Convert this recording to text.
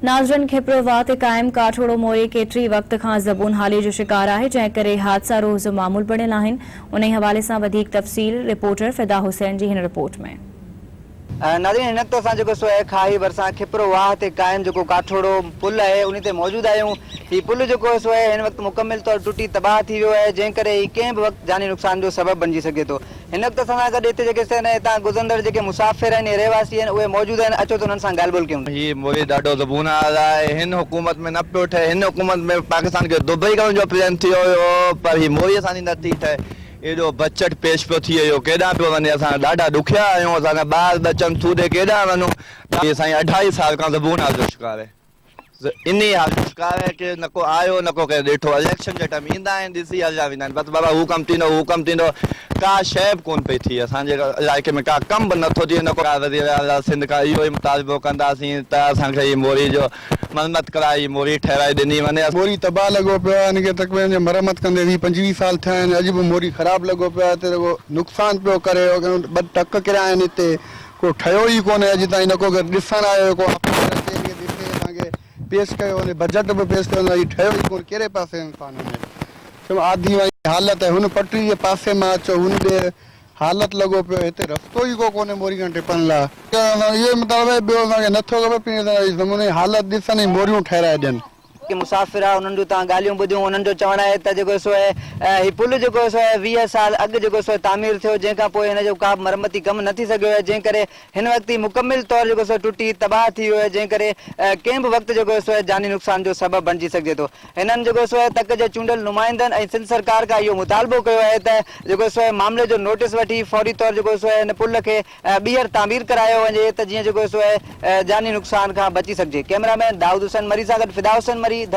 ناظرن کپرو واهه تي قائم ڪاٺوڙو موري ڪيتري وقت کان زبون حالي جو شڪار آهي جنهن ڪري حادثا روز معمول بڻيل آهن انهي حوالي سان وڌيڪ تفصيل رپورٽر فدا حسين جي هن رپورٽ ۾. ناظرين هن وقت اسان جيڪو سوئي کاهي ڀرسان کپرو واهه تي قائم جيڪو ڪاٺوڙو پل آهي انهي تي موجود آهيون هي پل جيڪو سوئي هن وقت مڪمل طور ٽٽي تباهه ٿي ويو آهي جنهن ڪري هي ڪنهن به وقت جاني نقصان جو سبب بڻجي سگهي ٿو هن وقت اسان سان گڏ هتي جيڪي سين ۽ هتان گذرندڙ جيڪي مسافر آهن يا رهواسي آهن اهي موجود آهن اچو ته انهن سان ڳالهه ٻولهه ڪيون. هي موري ڏاڍو زبون آز آهي هن حڪومت ۾ نه پيو ٺهي هن حڪومت ۾ پاڪستان کي دبئي ڪرڻ جو پلين ٿيو هيو پر هي موري اسان جي نه ٿي ٺهي ايڏو بجٽ پيش پيو ٿئي اهو ڪيڏانهن پيو وڃي اسان ڏاڍا ڏکيا آهيون اسان جا ٻار ٻچن سوڌي ڪيڏانهن وڃون ڏاڍو سائين اڍائي سال کان زبون آز جو شڪار آهي. انهي حالت ڪار آهي ڪي نه ڪو آيو نه ڪو ڪنهن ڏٺو اليڪشن جي ٽائيم ايندا آهن ڏسي هليا ويندا آهن بس بابا هو ڪم ٿيندو هو ڪم ٿيندو ڪا شئي به ڪون پئي ٿئي اسان جي علائقي ۾ ڪا ڪم به نٿو ٿئي نه ڪو وزير اعليٰ سنڌ کان اهو ئي مطالبو ڪنداسين ته اسان کي هي موري جو مرمت ڪرائي هي موري ٺهرائي ڏني وڃي. موري تباهه لڳو پيو آهي ان کي تقريبن جي مرمت ڪندي ويهه پنجويهه سال ٿيا آهن اڄ به موري خراب لڳو پيو آهي هتي رڳو نقصان پيو ڪري ٻه ٽڪ ڪريا آهن هتي ڪو ٺهيو ئي ڪونهي اڄ تائين نه ڪو ڏسڻ آيو هي ڪو آفيسر اچي ان کي ڏسي اسان کي پيش ڪيو وڃي بجيٽ به پيش ڪيو وڃي ٺهيو ئي ڪونهي ڪهڙي پاسي انسان وڃي چيم آڌي وائي حالت آهي هن پٽڙي جي پاسي مان اچو هن ڏي حالت لڳو پيو هتي رستو ئي ڪو ڪونهي موري کان ٽپڻ لا. اسان جو اهو ئي مطالبو آهي ٻيو اسان کي نه ٿو کپي پنهنجي زمين جي حالت ڏسن ۽ موريون ٺهرائي ڏين. ڪي مسافر انهن جون تان ڳالهيون ٻڌيون انهن جو چوڻ آهي ته جيڪو سو هي پل جيڪو سو ويهه سال اڳ جيڪو سو تعمير ٿيو جنهن کان پوء هن جو ڪابه مرمتي ڪم نه ٿي سگهيو جنهن ڪري هن وقت هي مڪمل طور جيڪو سو ٽٽي تباهه ٿي ويو جنهن ڪري ڪنهن به وقت جيڪو سو جاني نقصان جو سبب بڻجي سگهجي ٿو هنن جيڪو سو تڪ جي چونڊيل نمائندن ۽ سنڌ سرڪار کان اهو مطالبو ڪيو آهي ته جيڪو سو معاملي جو نوٽس وٺي فوري طور جيڪو سو هن پل کي ٻيهر تعمير ڪرايو وڃي ته جيئن جيڪو سو جاني نقصان کان بچي سگهجي. ڪئميرا مين دائود حسين مري سان گڏ فدا حسين مري،